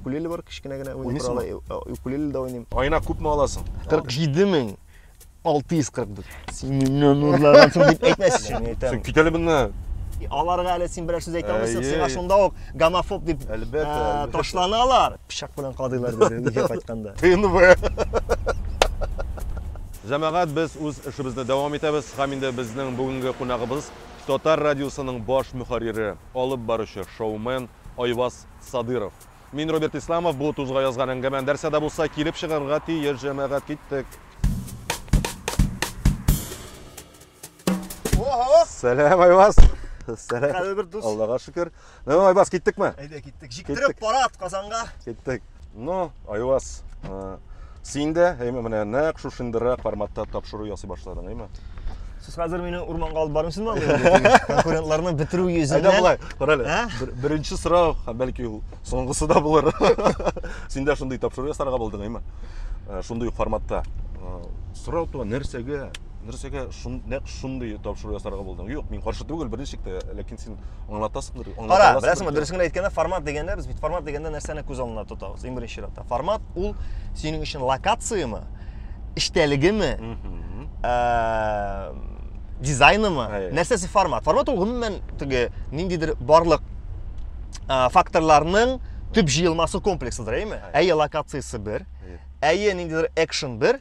укулеле бар кечкенә генә укулеле дә уйныйм айына күпме аласың кырык җиде мең алты йөз кырык дүрт син миннән урлагансың дип әйтмәс өчен әйтәм син кит әле моннан аларга әле син берәр сүз әйтә алмыйсың сиңа шунда ук гомофоб дип әлбәттә ташланалар пычак белән кадыйлар диде өйгә кайтканда тнв Җәмәгать, без үз эшебезне дәвам итәбез һәм инде безнең бүгенге кунагыбыз Татар радиосының баш мөхәррире, алып баручы, шоумен Айваз Садыров. Мин, Роберт Исламов, бу тузга язган әңгәмә нәрсә дә булса килеп чыгарга тиеш, җәмәгать, киттек! Сәлам, Айваз! Сәлам! Кадерле бер дус! Аллага шөкер! Ну, ну, Айбас, киттек ме? Әйдә, киттек. Жиктіріп парад Казанға. Киттек. Ну, Айбас, э, син дә, әйме, менә нәк шушындыра форматта тапшыру ясый башладың, әйме? Сез хәзер мине урманга алып барымсыз ма? Конкурентларны бетерү йөзеннән. Әйдә болай, карале. Ә? Беренче сорау, бәлки ул соңгысы да булыр. Син дә шундый тапшыру ясарга булдың, әйме? Э, шундый форматта. Э, сорау туа нәрсәгә? нәрсәгә шун, нәкъ шундый тапшыру ясарга булдың? Юк, мин каршы түгел берничек тә, ләкин син аңлатасыңдыр. Кара, беләсеңме, дөресен генә әйткәндә, формат дигәндә без бит формат дигәндә нәрсәне күз алдына тотабыз? Иң беренче чиратта формат ул синең өчен локацияме, эчтәлегеме, дизайнымы, нәрсәсе формат? Формат ул гомумән теге ниндидер барлык факторларның төп җыелмасы комплексыдыр, әйме? Әйе, локациясе бер, әйе, ниндидер экшен бер,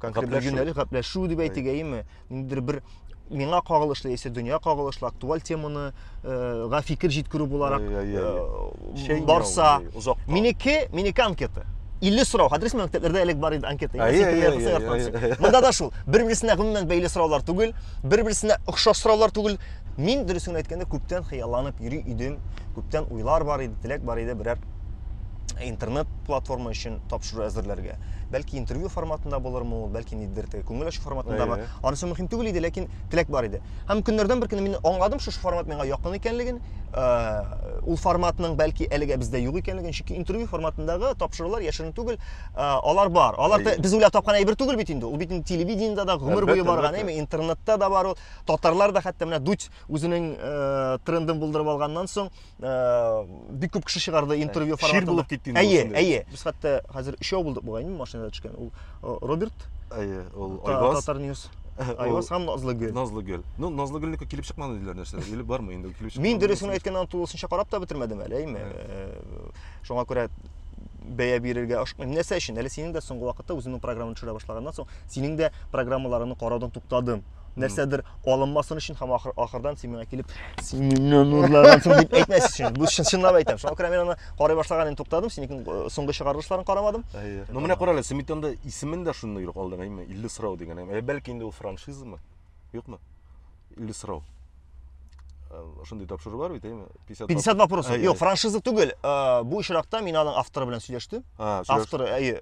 гәпләшү гәпләшү дип әйтик әйеме ниндидер бер миңа кагылышлы яисә дөнья кагылышлы актуаль теманы э, га фикер җиткерү буларак э, барса минеке минеке анкета илле сорау хәдер син мәктәпләрдә элек бар иде анкета монда да шул бер берсенә гомумән бәйле сораулар түгел бер берсенә охшаш сораулар түгел мин дөресен әйткәндә күптән хыялланып йөри идем күптән уйлар бар иде теләк бар иде берәр интернет платформа өчен тапшыру әзерләргә бәлки интервью форматында булырмы ул бәлки ниндидер теге күңел ачу форматындамы Әйе. анысы мөһим түгел иде ләкин теләк бар иде һәм көннәрдән бер көнне мин аңладым шушы формат миңа якын икәнлеген ә, ул форматның бәлки әлегә бездә юк икәнлеген чөнки интервью форматындагы тапшырулар яшерен түгел ә, алар бар алар Әйе. без уйлап тапкан әйбер түгел бит инде ул бит инде телевидениедә дә гомер буе барган әйме интернетта да бар ул татарлар да хәтта менә дудь үзенең ә, трендын булдырып алганнан соң Э, бик күп кеше чыгарды интервью форматында. Чир булып китте инде. Әйе, әйе. Без хәтта хәзер өчәү булдык бугайны машинада төшкән. Ул э, Роберт. Әйе, ул Айваз. Татар News. Айваз һәм Назлыгөл. Назлыгөл. Ну, Назлыгөлнеке килеп чыкмады диләр нәрсә. Или бармы инде килеп чыкмады. Мин дөресен әйткәндә тулысынча карап та бетермәдем әле, әйме. Э, шуңа күрә бәя бирергә ашыкмыйм. Нәрсә өчен? Әле синең дә соңгы вакытта үзеңнең программаны төшерә башлаганнан соң, синең дә программаларыңны караудан туктадым. нәрсәдер алынмасын өчен һәм ахыр, ахырдан син миңа килеп син миннән урлагансын дип әйтмәс өчен бу чын чынлап әйтәм шуңа күрә мин аны карый башлаган инде туктадым синең э, соңгы чыгарылышларын карамадым ну менә кара әле сметанда исемен дә шундый юк алдың әйме илле сорау дигән ә бәлки инде ул франшизамы юкмы илле сорау э, шундый тапшыру бар бит әйме 50 50 вопросов юк франшиза түгел э, бу очракта мин аның авторы белән сөйләштем авторы әйе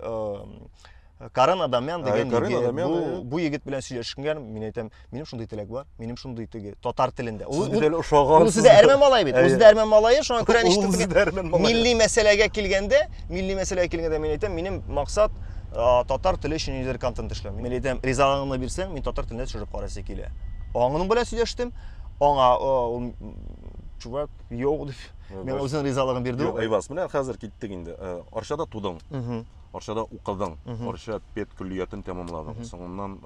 Карен Адамян деген ә, Карен Адамян, бу, ә... бу егет белән сөйләшкән, мин әйтәм, минем шундый теләк бар, минем шундый теге татар телендә. Ул үзе ошаган. Үзе дә әрмән малай бит. Үзе дә әрмән малае, шуңа күрә ништәтегә. Милли мәсьәләгә килгәндә, милли мәсьәләгә килгәндә мин әйтәм, минем максат татар теле өчен нидер контент эшләү. Мин әйтәм, ризалыгыңны бирсәң, мин татар телендә төшереп карасы килә. Аңның белән сөйләштем. Аңа ул чувак, йоу дип, мен үзенең ризалыгын бирде. Йоу, Айваз, менә хәзер киттек инде. Арчада тудың. Арчада укыдың, Арча пед көллиятен тәмамладың, соңыннан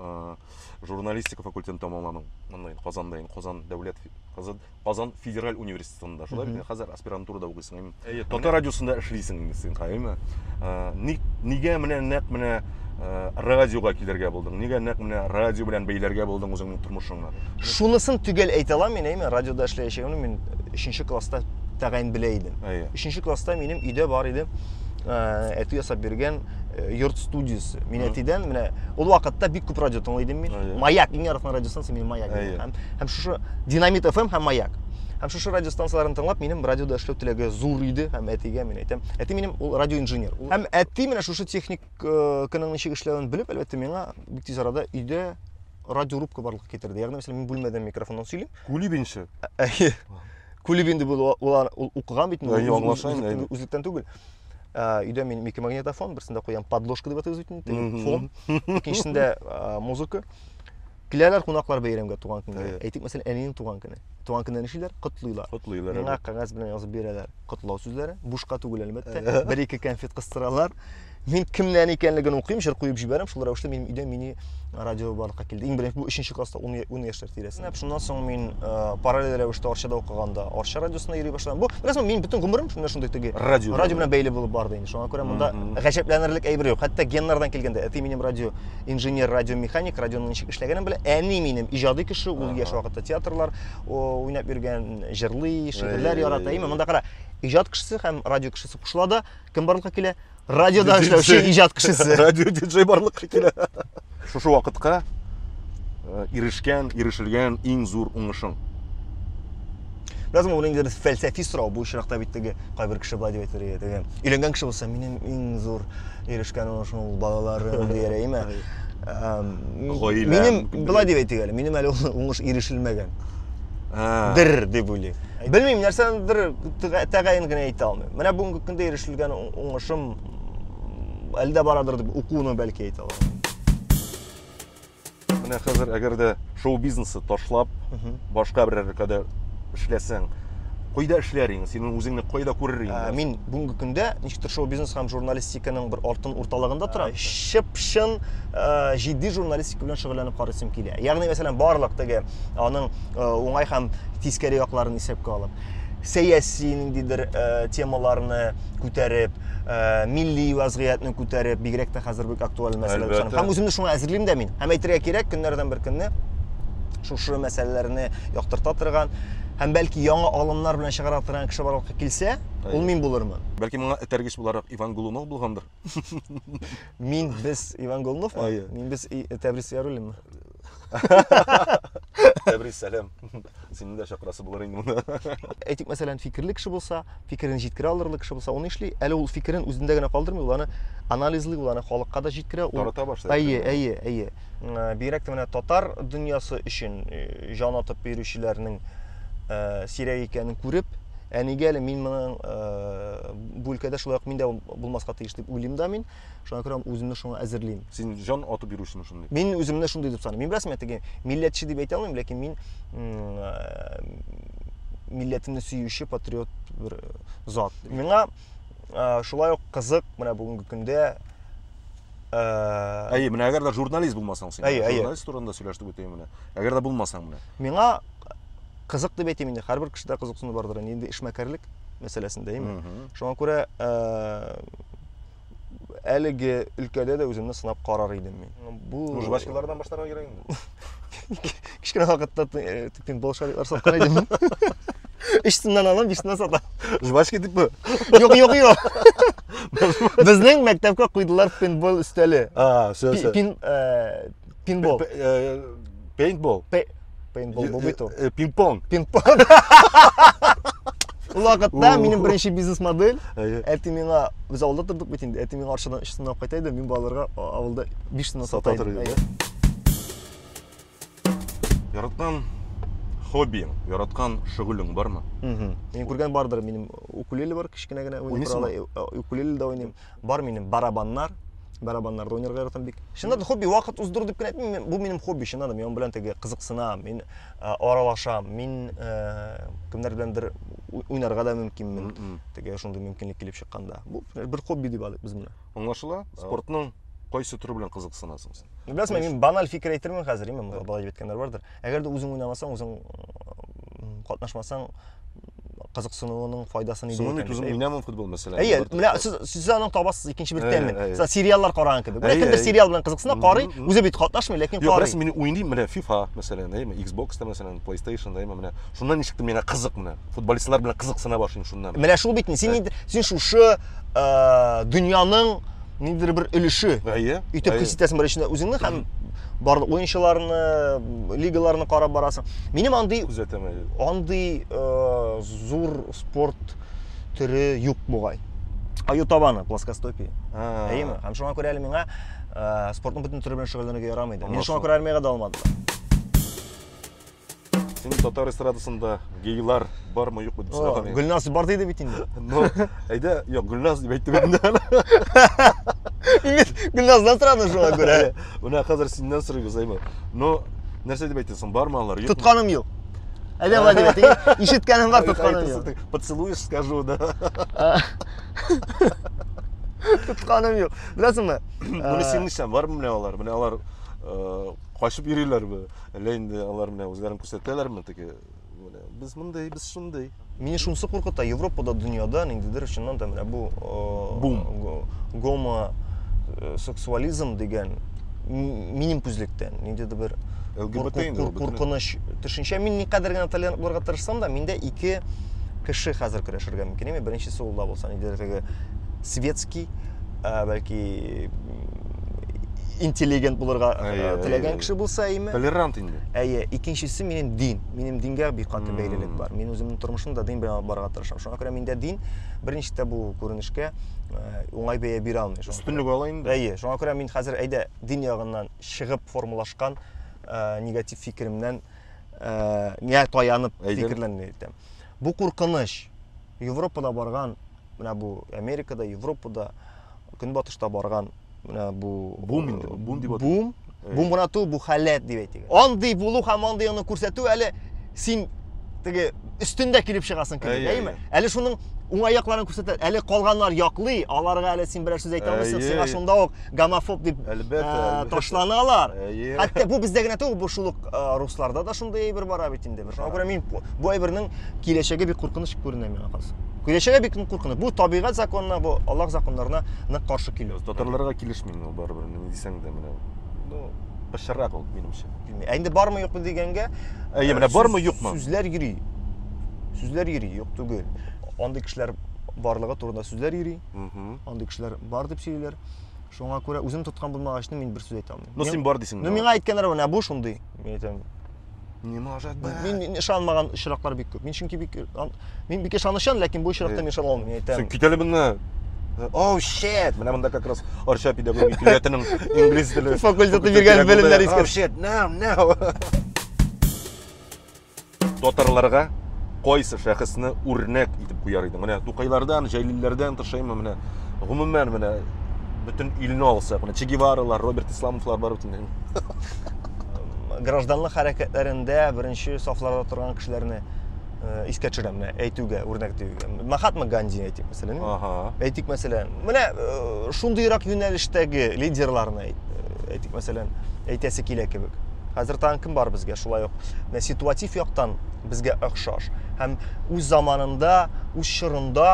журналистика факультетын тәмамладың. Монда инде Казанда инде Казан дәүләт Казан, Казан федераль университетында. Шулай бит, хәзер аспирантурада укыйсың, әйме? Әйе, татар радиосында эшлисең инде син, әйме? Ник нигә менә нәкъ менә радиога килергә булдың? Нигә нәкъ менә радио белән бәйләргә булдың үзеңнең тормышыңны? Шунысын төгәл әйтә алам мин, әйме? Радиода эшләячәгемне мин 3 класста тәгаен белә идем. Әйе. 3 класста минем өйдә бар иде. ә, әти ясап биргән э, йорт студиясе. Мин әтидән менә ул вакытта бик күп радио тыңлый идем мин. Маяк, иң яраткан радиостанция минем Маяк. Һәм һәм шушы Динамит FM һәм Маяк. Һәм шушы радиостанцияләрен тыңлап, минем радиода эшләү теләге зур иде һәм әтигә мин әйтәм. Әти минем ул радиоинженер. Һәм әти менә шушы техник э, кының ничек эшләвен белеп, әлбәттә, миңа бик тиз арада өйдә радиорубка барлыкка китерде. Ягъни, мәсәлән, мин бүлмәдән микрофоннан сөйлим, Кулибин ши. Әйе. Кулибин дип ул укыган бит инде. Аңлаша инде. Үзлектән түгел. Өйдә мин микромагнитофон, берсендә куям подложка дип атыйбыз бит инде, фон. Икенчесендә музыка. Киләләр кунаклар бәйрәмгә туган көнгә. Әйтик, мәсәлән, әнинең туган көне. Туган көнне нишлиләр? Котлыйлар. Котлыйлар. Миңа кәгазь белән язып бирәләр котлау сүзләре. Бушка түгел, әлбәттә. Бер-ике конфет кыстыралар. Мин кемнән икәнлеген укыйм, җыр куеп җибәрәм, шул рәвешле минем өйдә мини радио барлыкка килде. Иң беренче бу 3нче класста 10 10 яшьләр тирәсендә. Шуннан соң мин э, параллель рәвештә Арчада укыганда Арча радиосына йөри башладым. Бу рәсмән мин бөтен гомерем шунда шундый теге радио, радио белән бәйле булып барды инде. Шуңа күрә монда гаҗәпләнерлек әйбер юк. Хәтта геннардан килгәндә әти минем радио инженер, радио механик, радионың ничек эшләгәнен белә. Әни минем иҗади кеше, ул яшь вакытта театрлар уйнап йөргән, җырлый, шигырьләр ярата. Именно монда кара, иҗат кешесе һәм радио кешесе кушыла да Кем барлыкка килә? Радиода эшләүче иҗат кешесе. Радио диджей барлыкка килә. Шушы вакытка э, ирешкән, ирешелгән иң зур уңышың. Бераз моны инде без фәлсәфи сорау бу очракта бит теге кайбер кеше былай дип әйтер иде. Өйләнгән кеше булса, минем иң зур ирешкән уңышым ул балаларым дияр әйме? Гаилә. Минем былай дип әйтик әле, минем әле уңыш ирешелмәгән. дер дип уйлыйм белмим нәрсәнедер тәгаен генә әйтә алмыйм менә бүгенге көндә ирешелгән уңышым әлдә барадыр дип укуны бәлки әйтә алам менә хәзер әгәр дә шоу бизнесы ташлап башка бер өлкәдә эшләсәң кайда эшләр идең синең үзеңне кайда күрер идең ә, мин бүгенге көндә ничектер шоу бизнес һәм журналистика Икенең бер алтын урталыгында тора. Чып-чын җитди журналистика белән шөгыльләнеп карыйсым килә. Ягъни, мәсәлән, барлык теге аның уңай һәм тискәре якларын исәпкә алып, сәяси ниндидер темаларны күтәреп, милли вазгыятьне күтәреп, бигрәк тә хәзер бик актуаль мәсьәлә булса. Һәм үземне шуңа әзерлим дә мин. Һәм әйтергә кирәк, көннәрдән бер көнне шушы мәсьәләләрне яктырта торган һәм бәлки яңа алымнар белән чыгара торган кеше барлыкка килсә, ул мин булырмын. Бәлки моңа этәргеч Буларак Иван Голунов булгандыр. Мин без Иван Голунов ма? Әйе. Мин без И- Тәбрис Яруллин ма? Тәбрис сәлам. Сине дә чакырасы булыр инде монда. Әйтик, мәсәлән, фикерле кеше булса, фикерен җиткерә алырлык кеше булса, аны эшли. Әле ул фикерен үзендә генә калдырмый, ул аны анализлый, ул аны халыкка да җиткерә. Ул... Тарата башлый. Әйе, әйе, әйе. М, Бигрәк тә менә татар дөньясы өчен э, җан атып йөрүчеләрнең э, сирәк икәнен күреп, ә нигә әле мин моның э, бу өлкәдә шулай ук мин дә булмаска тиеш дип уйлыйм да мин. Шуңа күрә үземне шуңа әзерлим. Син җан атып йөрүчеме шундый? Мин үземне шундый дип саныйм. Мин беләсеңме, теге милләтче дип әйтә алмыйм, ләкин мин э, милләтемне сөюче патриот бер э, зат. Миңа э, шулай ук кызык менә бүгенге көндә Әйе, менә әгәр дә журналист булмасаң син, журналист турында сөйләштек үтәем менә. Әгәр дә булмасаң менә. Миңа кызык дип әйтим инде һәрбер кешедә кызыксыну бардыр инде инде эшмәкәрлек мәсьәләсендә име шуңа күрә әлеге өлкәдә дә үземне сынап карар идем мин бу жвачкалардан башларга кирәк инде кечкенә вакытта пинбол шарикалар саткан идем үч сумнан алам биш сумнан сатам жвачка итепме юк юк юк безнең мәктәпкә куйдылар пинбол өстәле Пинбол. Э, пейнтбол. Пейнтбол э, бобито. Э, пинг-понг. Пинг-понг. Вакытта минем беренче бизнес модель. Әти миңа без авылда тордык бит инде. Әти миңа аршадан 3 сынап кайта иде. Мин балаларга авылда 5 сынап сата идем. Яраткан хоббиң, яраткан шөгылең бармы? Мин күргән бардыр, минем укулеле бар, кечкенә генә уйный. Укулеле дә уйныйм. Бар минем барабаннар, барабаннар да уйнарга яратам бик. Чыннан да хобби вакыт уздыру дип кенә әйтмим, бу минем хобби чыннан да, мин аның белән теге кызыксынам, мин э, аралашам, мин э, кемнәр беләндер уйнарга да мөмкинмен. Теге шундый мөмкинлек килеп чыкканда. Бу бер хобби дип алыйк без моны. Аңлашыла? Спортның кайсы төре белән кызыксынасың син? Беләсең, мин баналь фикер әйтермен хәзер, именно балай дип әйткәннәр бардыр. Әгәр дә үзең уйнамасаң, үзең катнашмасаң, кызыксынуының файдасы нидә икән? Үзем уйнамам футбол мәсәлән. Әйе, менә сез сез аны табасыз икенче бер тәмен. Сез сериаллар караган кебек. Менә кемдер сериал белән кызыксына, карый, үзе бит катнашмый, ләкин карый. Юк, рәсми мин уйныйм, менә FIFA, мәсәлән, әйме, Xbox та мәсәлән, PlayStation да, әйме, менә. Шуннан ничек миңа кызык менә. Футболистлар белән кызыксына башлыйм шуннан. Менә шул бит, син син шушы дөньяның ниндидер бер өлеше әйе итеп хис итәсең бер эчендә үзеңне һәм барлык уенчыларны лигаларны карап барасың минем андый күзәтәм андый э, зур спорт төре юк бугай аю табаны плоскостопие әйеме һәм шуңа күрә әле миңа э, спортның бөтен төре белән шөгыльләнергә ярамый иде мин шуңа күрә армиягә дә алмадым Син татар эстрадасында гейлар бармы юкмы дип сораган идем. Гөлназ бар диде бит инде. Ну, әйдә, юк, Гөлназ дип әйтте бит инде. Имет, Гөлназдан сорады шуңа күрә. Менә хәзер синнән сорыйбыз, әйме. Ну, нәрсә дип әйтәсең, бармы алар? Юкмы? Тотканым юк. Әйдә бар дип әйтте. Ишеткәнем бар, тотканым юк. Поцелуешь, скажу, да. Тотканым юк. Беләсеңме? Менә синең ишән бармы менә алар? Менә алар э, качып йөриләрме әллә инде алар менә үзләрен күрсәтәләрме теге менә без мондый без шундый Мине шунысы куркыта, Европада, дөньяда ниндидер чыннан да менә бу бум гомо э, сексуализм дигән минем күзлектән ниндидер бер куркыныч төшенчә. Мин никадәр генә толерант булырга тырышсам да, миндә ике кеше хәзер көрәшергә мөмкин. Беренчесе ул да булса ниндидер теге светский, э, бәлки интеллигент булырга э, теләгән кеше булса әйме толерант инде әйе икенчесе минем дин минем дингә бик каты бәйлелек бар мин үземнең тормышымны да дин белән барырга тырышам шуңа күрә миндә дин беренче дә бу күренешкә э, уңай бәя бирә алмый өстенлек ала инде әйе шуңа күрә мин хәзер әйдә дин ягыннан чыгып формалашкан э, негатив фикеремнән миңа таянып фикерләрне әйтәм бу куркыныч европада барган менә бу Америкада, Европада, Көнбатышта барган менә бу бум инде, бум дип атыйм. Бум, э. бум гына түгел, бу халәт дип әйтик. Андый булу һәм андый аны күрсәтү әле син теге өстендә килеп чыгасың кебек, әйме? Әле шуның уңай якларын күрсәтә. Әле калганнар яклый, аларга әле син берәр сүз әйтә алмыйсың, сиңа шунда ук гомофоб дип ташланалар. Хәтта бу бездә генә түгел, бу шул ук русларда да шундый әйбер бара бит инде. Шуңа күрә мин бу әйбернең киләчәге бик куркыныч күренә миңа калса. Киләчәге бик куркыныч. Бу табигать законына, бу Аллаһ законнарына нык каршы килү. Татарларга килешмим ул барыбер, ни дисәң дә менә. Ну, пычырак ул минемчә. Ә инде бармы юкмы дигәнгә, әйе, менә бармы юкмы? Сүзләр йөри. Сүзләр йөри, юк түгел. Андый кешеләр барлыгы турында сүзләр йөри. Андый кешеләр бар дип сөйлиләр. Шуңа күрә үзем тоткан булмагачны мин бер сүз әйтә алмыйм. Ну син бар дисең. Ну миңа әйткәннәр менә бу шундый. Мин әйтәм, Не может быть. Мин, мин ышанмаган очраклар бик күп. Мин чөнки бик мин бик ышанычан, ләкин бу очракта мин ышана алмыйм, әйтәм. Син китәле моннан. Оу, шет! Менә монда как раз Арча педагогия көллиятенең инглиз теле факультеты биргән белемнәр искә. Оу, шет! Нау, нау. Татарларга кайсы шәхесне үрнәк итеп куяр идең? Менә Тукайлардан, Җәлилләрдән тышаймы менә? Гомумән менә бөтен илне алсак, менә Че Геваралар, Роберт Исламовлар бар бит инде. гражданлык хәрәкәтләрендә беренче сафларда торган кешеләрне э, искә төшерәм менә әйтүгә үрнәк диюгә махатма ганди әйтик мәсәлән ага. әйтик мәсәлән менә э, шундыйрак юнәлештәге лидерларны әйт, э, әйтик мәсәлән әйтәсе килә кебек хәзер тагын кем бар безгә шулай ук менә ситуатив яктан безгә охшаш һәм үз заманында үз чорында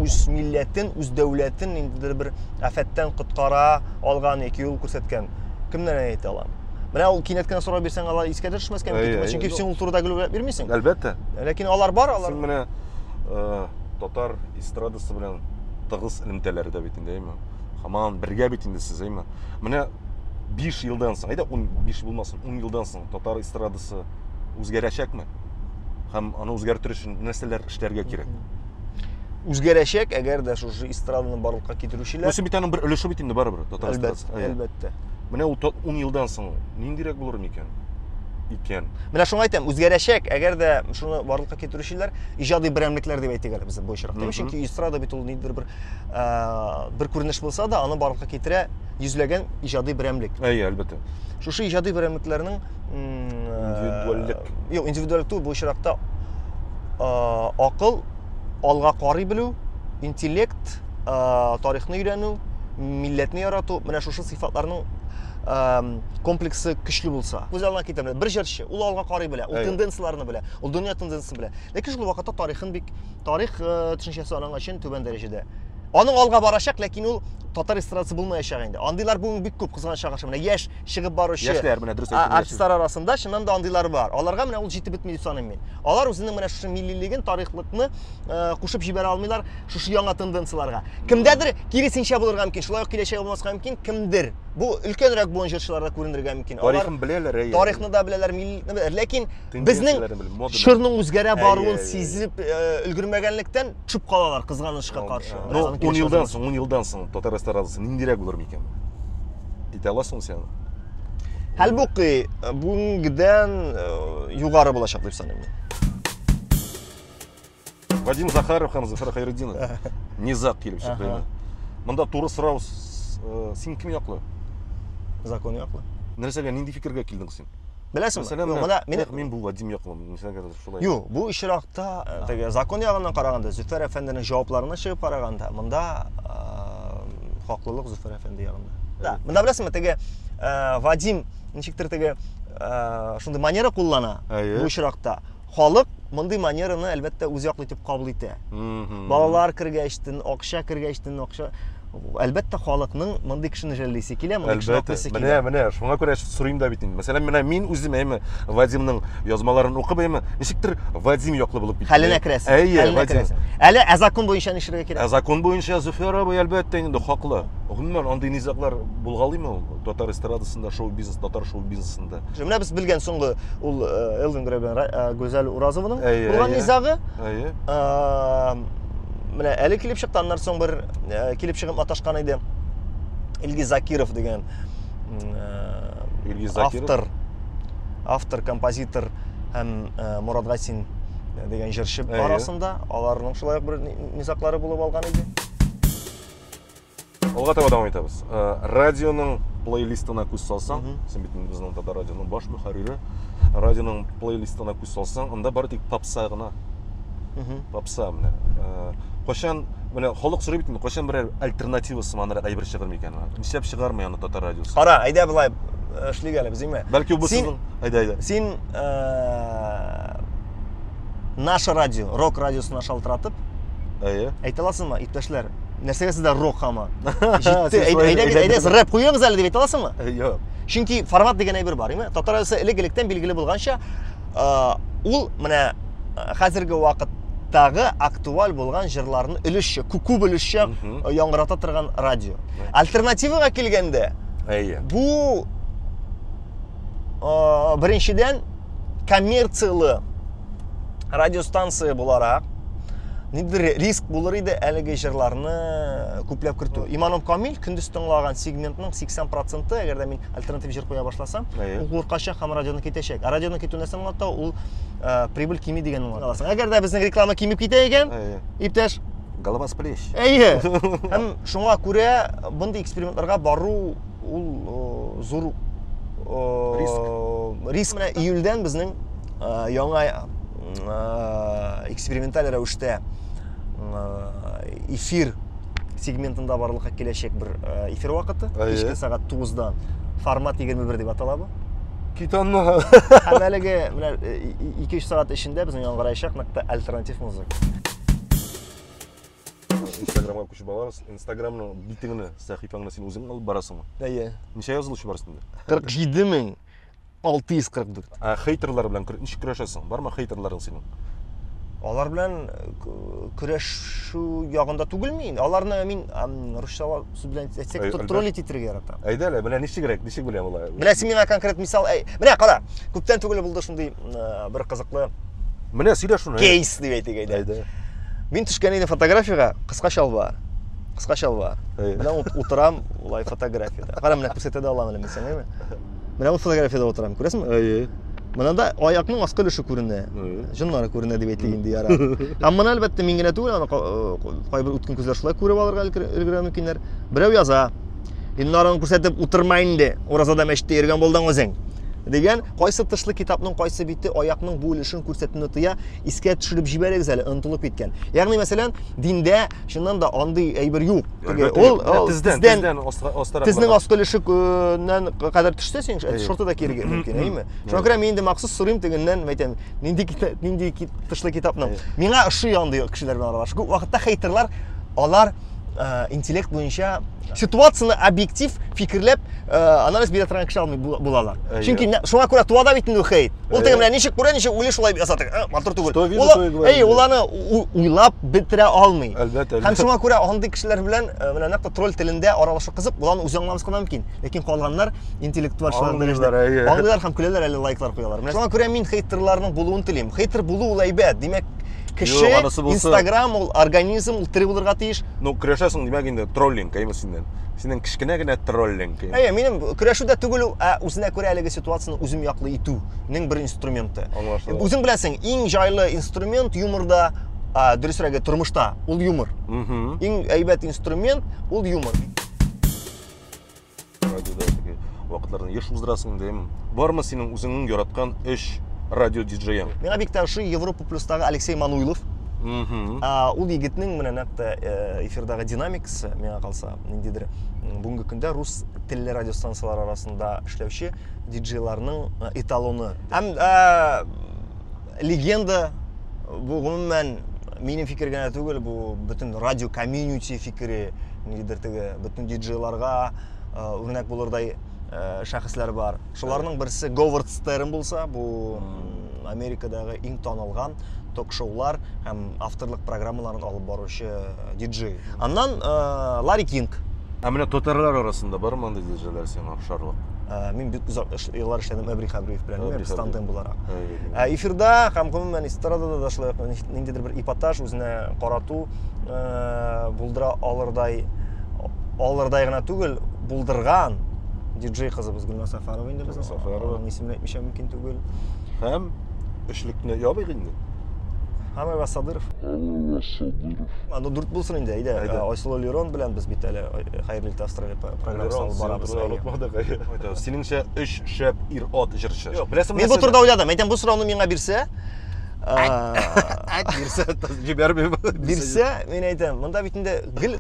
үз милләтен үз дәүләтен ниндидер бер афәттән коткара алган яки юл күрсәткән кемнәрне әйтә алам Менә ул кинәт кенә сорау бирсәң, алар искә дә төшмәскә мөмкин. Чөнки син ул турыда гел уйлап бирмисең. Әлбәттә. Ләкин алар бар, алар. Син менә э, татар эстрадасы белән тыгыз элемтәләре дә бит инде, әйме? Хаман бергә бит инде сез, әйме? Менә 5 елдан соң, әйдә 15 булмасын, 10 елдан соң татар эстрадасы үзгәрәчәкме? Һәм аны үзгәртер өчен нәрсәләр эшләргә кирәк? Үзгәрәчәк, әгәр дә шушы эстраданы барлыкка китерүчеләр. Бусы бит аның бер өлеше бит инде барыбер татар эстрадасы. Әлбәттә. Менә ул 10 елдан соң ниндирәк булыр микән? икән. Менә шуңа әйтәм, үзгәрәчәк, әгәр дә шуны барлыкка китерүчеләр иҗади берәмлекләр дип әйтик әле без бу очракта. Mm -hmm. Чөнки эстрада бит ул ниндидер бер ә, бер күренеш булса да, аны барлыкка китерә йөзләгән иҗади берәмлек. Әйе, әлбәттә. Шушы иҗади берәмлекләрнең индивидуальлек юк индивидуальлек түгел бу очракта акыл алга карый белү интеллект тарихны өйрәнү милләтне ярату менә шушы сыйфатларның комплексы көчле булса күз алдына китерде бер җырчы ул алга карый белә ул тенденцияләрне белә ул дөнья тенденциясын белә ләкин шул вакытта тарихын бик тарих э, төшенчәсе аның өчен түбән дәрәҗәдә аның алга барачак ләкин ул татар эстрадасы булмаячак инде андыйлар бүген бик күп кызганычка каршы менә яшь чыгып баручы яшьләр менә дөрес әйттең артистлар арасында чыннан да андыйлар бар аларга менә ул җитеп бетми дип саныйм мин алар үзенең менә шушы миллилеген тарихлыкны э, кушып җибәрә алмыйлар шушы яңа тенденцияләргә кемдәдер киресенчә булырга мөмкин шулай ук киләчәге булмаска мөмкин кемдер бу өлкәнрәк буын җырчыларда күренергә мөмкин тарихын беләләр тарихны да беләләр миллиликны беләләр ләкин Безнең чорның үзгәрә баруын сизеп өлгермәгәнлектән төшеп калалар кызганычка каршы. Ну, 10 елдан соң, 10 елдан соң татар эстрадасы ниндирәк булыр микән? Әйтә аласың сен? Хәлбуки, бүгенгедән югары булачак дип саныйм. Вадим Захаров һәм Зөфәр Хәйретдинов низаг килеп чыкты инде. Монда туры сорау, э, син кем яклы? Закон яклы. Нәрсәгә, нинди фикергә килдең син? Беләсең, менә мин мин бу Вадим яклы, нисәгә шулай. Юк, бу очракта э, теге закон ягыннан караганда, Зөфәр әфәнденең җавапларына чыгып караганда, монда э, хаклылык Зөфәр әфәнде ягында. Да, монда беләсеңме, теге Вадим ничектер теге шундый манера куллана бу очракта. Халык мондый манераны, әлбәттә, үз яклы итеп кабул итә. Балалар кергәч, тен акча кергәч, тен акча. Әлбәттә, халыкның мондый кешене жәллисе килә, мондый кешене аклыйсы килә. Менә, менә, шуңа күрә сорыйм да бит инде. Мәсәлән, менә мин үзем әйме Вадимның язмаларын укып әйме, ничектер Вадим яклы булып китте. Хәленә керәсең. Әйе, Вадим. Әле ә закон буенча ни эшләргә кирәк? Ә закон буенча Зөфәр абый әлбәттә инде хаклы. Гомумән, андый низаглар булгалыймы ул татар эстрадасында, шоу-бизнес, татар шоу-бизнесында? Менә без белгән соңгы ул Элвин Грей белән Гүзәл Уразованың булган низагы. Әйе. Менә әле килеп чыкты, аннан соң бер килеп чыгып маташкан иде. Илгиз Закиров дигән Илгиз Закиров автор автор, композитор һәм Мурат Гасин дигән җырчы арасында аларның шулай ук бер низаклары булып алган иде. алга таба дәвам итәбез э, радионың плейлистына күз салсаң син бит безнең татар радионың баш мөхәррире радионың плейлистына күз салсаң анда бары тик попса гына попса менә э, кайчан менә халык сорый бит кайчан берәр альтернатива сыманрак әйбер чыгыр микән нишләп чыгармый аны татар радиосы кара әйдә болай э, эшлик әле безгеме бәлки бу сезнең әйдә әйдә син наше радио рок радиосына шалтыратып әйе әйтә аласыңмы иптәшләр нәрсәгә сездә рок һаман җитте әйдәгез рэп куегыз әле дип әйтә аласыңмы юк чөнки формат дигән әйбер бар яме татар радиосы элек электән билгеле булганча ул менә хәзерге вакыттагы актуаль булган җырларны өлешчә күп өлешчә яңгырата торган радио альтернативага килгәндә әйе бу Э, беренчедән, коммерцияле радиостанция буларак, ниндидер риск булыр иде әлеге җырларны күпләп кертү. Иманом Камил көндез тыңлаган сегментның 80 проценты, әгәр дә мин альтернатив җыр куя башласам, ул куркачак һәм радионы китәчәк. Ә радионы китү нәрсә аңлата? Ул э, прибыль кими дигәнне аңлата. Әгәр дә безнең реклама кимеп китә икән, иптәш, голова с плеч. Әйе. Һәм шуңа күрә мондый экспериментларга бару ул э, зур э, риск. риск. Менә июльдән безнең э, яңа эксперименталь рәвештә эфир сегментында барлыкка киләчәк бер эфир вакыты кичке сәгать 9-дан формат 21 дип атала бу титанны һәм әлеге менә 2-3 сәгать эчендә безнең яңгыраячак нык альтернатив музыка Инстаграмга күчеп алабыз. Инстаграмның битеңне, сәхифәңне син үзең алып барасыңмы? Әйе. Ничә язылучы бар өстендә? 47 мең 644. Ә хейтерлар белән ничек көрәшәсең? Бармы хейтерларың синең? Алар белән көрәшү ягында түгел мин. Аларны мин русча сүз белән әйтсәк, троллить итәргә яратам. Әйдә әле, менә ничегрәк, ничек беләм алай? Менә син миңа конкрет мисал, менә кара, күптән түгел булды шундый бер кызыклы Менә сөйлә шуны. Кейс дип әйтик әйдә. Әйдә. Мин төшкән идем фотографиягә, кыска чалбар. Кыска чалбар. Менә утырам улай фотографиядә. Кара менә күрсәтә дә алам әле мин сиңа. Менә ут фотографиядә утырам, күрәсеңме? Әйе. Менә да аякның аскы өлеше күренә. Җоннары күренә дип әйтик инде яра. Һәм моны әлбәттә мин генә түгел, аны э, кайбер үткен күзләр шулай күреп алырга өлгерә мөмкиннәр. Берәү яза. Иннарын күрсәтеп утырма инде. Уразада мәчеттә йөргән булдың үзең. Дигән Кайсы тышлы китапның кайсы бите аякның бу өлешен күрсәтүне тыя, искә төшереп җибәрегез әле, онытылып киткән. Ягъни, мәсәлән, диндә чыннан да андый әйбер юк. Теге ул тездән тездән астарак. Тезнең аскы өлешеннән кадәр төшсә, син шорты да киергә мөмкин, әйеме? Шуңа күрә мин инде махсус сорыйм тегеннән, мәйтәм, нинди нинди тышлы китапның. Миңа ошый андый кешеләр белән аралашу. Күп вакытта хейтерлар алар ә, интеллект буенча ситуацияне объектив фикерләп ә, анализ бирә торган кеше алмый булалар. Ә, Чөнки шуңа күрә туа да бит инде хейт. Ул теге менә ничек күрә, ничек уйлый шулай ясады. Ә, матур түгел. Әй, ул аны уйлап бетерә алмый. Әлбәттә. Һәм шуңа күрә андый кешеләр белән ә, менә нәкъ тролль телендә аралашу кызык, боларны үзе аңламас кына мөмкин. Ләкин калганнар интеллектуалчылар дәрәҗәдә. Аңлыйлар һәм көләләр әле лайклар куялар. Менә шуңа күрә мин хейтерларның булуын телим. Хейтер булу ул әйбәт. Димәк, Кеше, Юк, анысы булса- Инстаграм ул организм, ул тере булырга тиеш. Ну, көрәшәсең, димәк инде, троллинг, әйме синнән. Синең кечкенә генә троллинг. Әйе, минем көрәшү дә түгел ул, ә үзенә күрә әлеге ситуацияне үзем яклы итүнең бер инструменты. Аңлашыла. Үзең беләсең, иң җайлы инструмент юморда, а, дөресрәге, тормышта, ул юмор. Мгм. Иң әйбәт инструмент ул юмор. радиода теге вакытларда еш уздырасың инде эм бармы синең үзеңнең яраткан өч радио диджеең миңа бик тә ошый европа плюстагы алексей мануйлов ул егетнең менә нәкъ тә э, эфирдагы динамикасы миңа калса ниндидер бүгенге көндә рус телле радиостанциялар арасында эшләүче диджейларның э, эталоны һәм э, Легенда бу гомумән минем фикер генә түгел, бу бөтен радио комьюнити фикере, нидер теге бөтен диджейларга үрнәк э, булырдай э, шәхесләр бар. Шуларның берсе Говард Стерн булса, бу Америкадагы иң танылган ток-шоулар һәм авторлык программаларын алып баручы э, диджей. Аннан э, Ларри Кинг. Ә менә татарлар арасында бар монда диджейлар сиңа? пошарлык. Ә, мин бик озак эш, еллар эшләдем Әбри Хәбриев белән, Әбри без тандем буларак. Ә эфирда һәм гомумән эстрадада да шулай ниндидер бер эпатаж үзенә карату ә, булдыра алырдай алырдай гына түгел, булдырган диджей кызыбыз Гөлназ Сафарова инде безнең. Сафарова. Аның исемен әйтмичә мөмкин түгел. Һәм эшлекне ябыйк инде. Хамева Садыров. Хамева Садыров. Аны дүрт булсын инде, әйдә. Айсылу Лерон белән без бит әле э, хәерле итә астроле программасы алып барабыз. Онытмадык. Әйтә, синеңчә өч шәп ир-ат җырчы. Беләсеңме? Мин бу турыда уйладым. Әйтәм, бу сорауны миңа бирсә, бирсә, җибәрмим. Бирсә, мин әйтәм, монда бит инде гел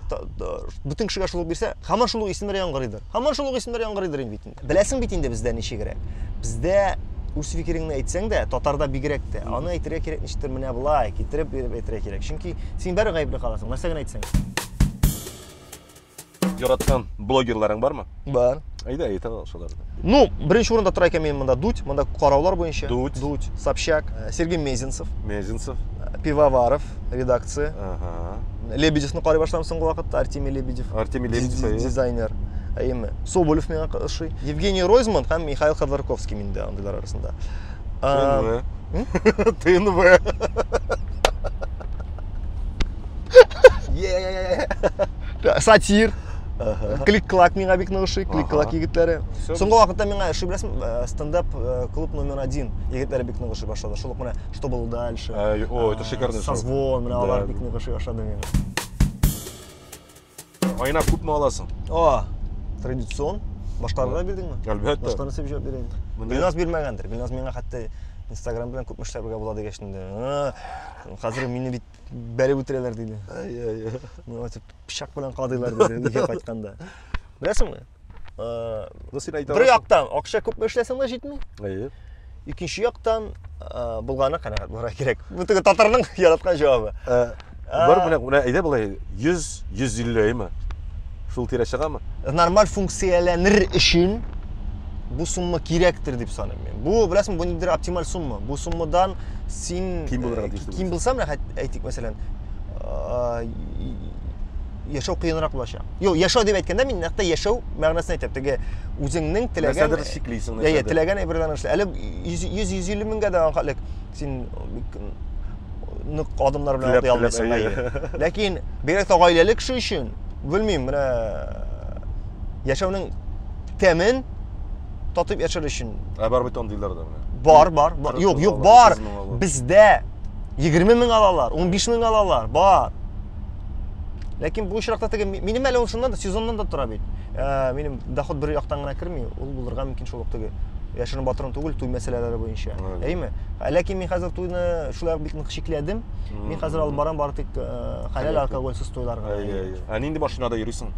бөтен кешегә шул бирсә, һаман шул исемнәр яңгырыйдыр. Һаман шул исемнәр яңгырыйдыр инде бит. Беләсең бит инде бездә ничегрәк. Бездә үз фикереңне әйтсәң дә, татарда бигрәк тә, аны әйтергә кирәк ничектер менә болай, китереп биреп әйтергә кирәк. Чөнки син бәрі гаепле каласың, нәрсә генә әйтсәң. Яраткан блогерларың бармы? Бар. Әйдә, әйтә ал шуларны. Ну, беренче урында тора икән минем монда Дудь, монда караулар буенча. Дудь. Дудь, Собчак, э, Сергей Мезенцев, Мезенцев. э, Пивоваров, редакция. Ага. Лебедевны карый башлам соңгы вакытта, Артемий Лебедев. Артемий Лебедев, Диз- әйе. Дизайнер. Әйеме. Соболев миңа ка- ошый. Евгений Ройзман һәм Михаил Ходорковский миндә андыйлар арасында. А, ТНВ. ТНВ. сатир клик клак миңа бик нык ошый клик клак егетләре соңгы вакытта миңа ошый беләсеңме э, стендап э, клуб номер один егетләре бик нык ошый башлады шул ук менә что было дальше о это шикарный созвон менә алар бик нык ошый башлады миңа Айна күпме аласың? О, традицион. Баштарны да бирдеңме? Әлбәттә. Баштарны сеп җавап бирәйин. Билназ бирмәгәндер. Билназ миңа хәтта Инстаграм белән күпме эшләр бергә була дигәч инде. Хәзер мине бит бәреп үтерәләр диде. Ай-ай. Миңа дип пычак белән кадыйлар диде, нигә кайтканда. Беләсеңме? бер яктан акча күпме эшләсәң дә җитми әйе икенче яктан булганы канәгать булырга кирәк бу теге татарның яраткан җавабы бар менә менә әйдә болай йөз йөз илле әйме шул тирә чыгамы нормаль функцияләнер өчен бу сумма кирәктер дип саныйм мин бу беләсеңме бу ниндидер оптималь сумма бу суммадан син ким булырга тиеш ким булсам әйтик мәсәлән яшәү кыенрак булачак. Юк, яшәү дип әйткәндә мин нәкъ яшәү мәгънәсен әйтәм. Теге үзеңнең теләгән нәрсәдер чиклисең, нәрсәдер. Әйе, теләгән әйберләрне эшлә. Әле 100-150 меңгә дә анхалек син нык адымнар белән атлый алмыйсың. Әйе. Ләкин бигрәк тә гаиләле кеше өчен, белмим, менә яшәүнең тәмен татып яшәр өчен. Ә бар бит андыйлар да менә. Бар, бар, бар. Юк, юк, бар. Бездә 20 мең алалар, 15 мең алалар, бар. ләкин бу очракта теге минем әле ул чыннан да сезоннан да тора бит ә, минем доход бер яктан гына керми ул булырга мөмкин шул ук теге яшерен батырын түгел туй мәсьәләләре буенча әйме ә, ләкин мин хәзер туйны шулай бик нык шикләдем мин хәзер алып барам бары тик ә, хәләл алкогольсыз туйларга ә нинди машинада йөрисең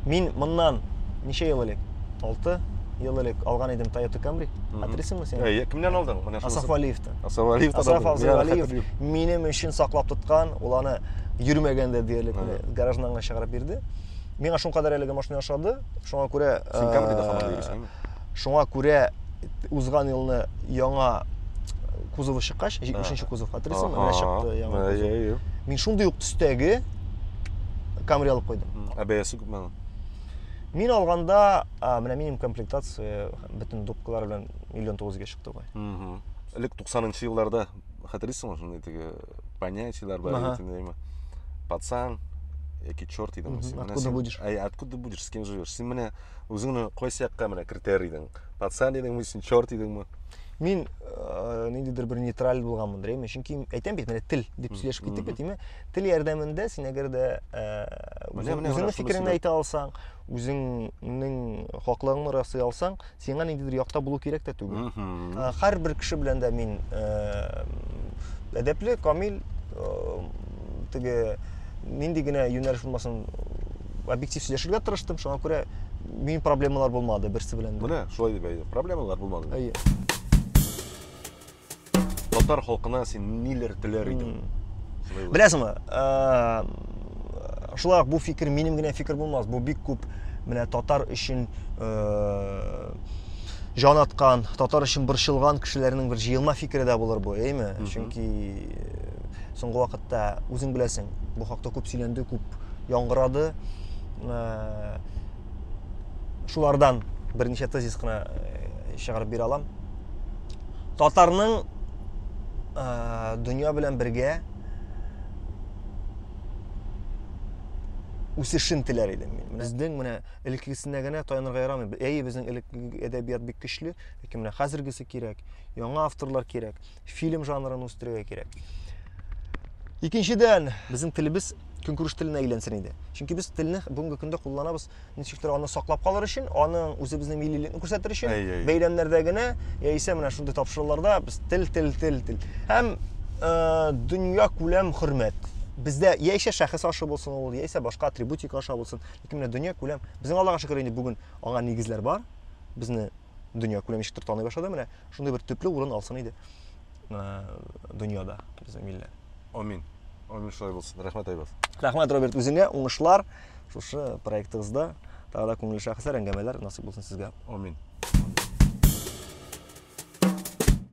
мин моннан ничә ел элек алты ел элек алган идем Toyota Camry. Хәтерисеңме син? Әйе, кемнән алдың? Менә шуны. Асаф Валиевтан. Асраф Алиев та Асраф Абзалиев минем өчен саклап тоткан, ул аны йөрмәгәндә диярлек гаражнанга чыгарып бирде. Миңа шуңа кадәр әлеге машина ошады. Шуңа күрә Син Камридә э, хамар йөрисеңме? Шуңа күрә узган елны яңа кузовы чыккач, 70 кузов хәтерлисеңме? Менә чыкты яңа. Иә, иә. Мин шундый ук төстәге Камри алып куйдым. Ә бәясе күпме аның? Мин алганда, менә минимум комплектация бөтен дубкалар белән миллион тугызга Давай. Угу. Элек 90-нчы елларда хәтерлисеңме шундый теге понятиелар бар ага. идеме? Пацан, яки черт идеме син? Откуда син, будешь? Ай, откуда будешь, с кем живешь? Син менә үзеңне кайсы якка менә кертер идең? Пацан идеңме, син черт идеңме? Мин э, ниндидер бер нейтраль булганмын дреме, чөнки әйтәм бит, менә тел дип сөйләшеп киттек бит, димә, тел ярдәмендә син әгәр дә э, үзеңнең фикереңне әйтә алсаң, үзеңнең хаклыгыңны расый алсаң, сиңа ниндидер якта булу кирәк тә түгел. Э, һәрбер кеше белән дә мин э, әдәпле, камил, э, теге нинди генә юнәлеш булмасын, объектив сөйләшергә тырыштым, шуңа күрә мин проблемалар булмады берсе белән. Менә шулай дип әйтә. Проблемалар булмады. Әйе. Татар халкына син ниләр теләр идең? Беләсеңме? Шулай бу фикер минем генә фикер булмас. Бу бик күп менә татар өчен җан аткан, татар өчен борчылган кешеләрнең бер җыелма фикере дә булыр бу, әйме? Чөнки соңгы вакытта үзең беләсең, бу хакта күп сөйләнде, күп яңгырады. Э, шулардан берничә тезис кына э, чыгарып бирә алам. татарның ә, дөнья белән бергә үсешен теләр идем мин. Менә безнең менә элеккесенә генә таянырга ярамый. Әйе, безнең элекке әдәбият бик көчле, ләкин менә хәзергесе кирәк, яңа авторлар кирәк, фильм жанрын үстерергә кирәк. Икенчедән, безнең телебез көнкүреш теленә әйләнсен иде. Чөнки без телне бүгенге көндә кулланабыз ничектер аны саклап калыр өчен, аның үзебезнең миллилекне күрсәтер өчен, бәйрәмнәрдә генә яисә менә шундый тапшыруларда без тел, тел, тел, тел. Һәм э, дөнья күләм хөрмәт. Бездә яисә шәхес ашы булсын ул, яисә башка атрибутика аша булсын, ләкин менә дөнья күләм. Безнең Аллага шөкер инде бүген аңа нигезләр бар. Безне дөнья күләм ничектер таный башлады менә шундый бер төпле урын алсын иде дөньяда безнең милләт амин амин шулай булсын рәхмәт айбас рәхмәт роберт үзеңә уңышлар шушы проектыгызда тағы да күңелле шәхесләр әңгәмәләр насыйп булсын сезгә амин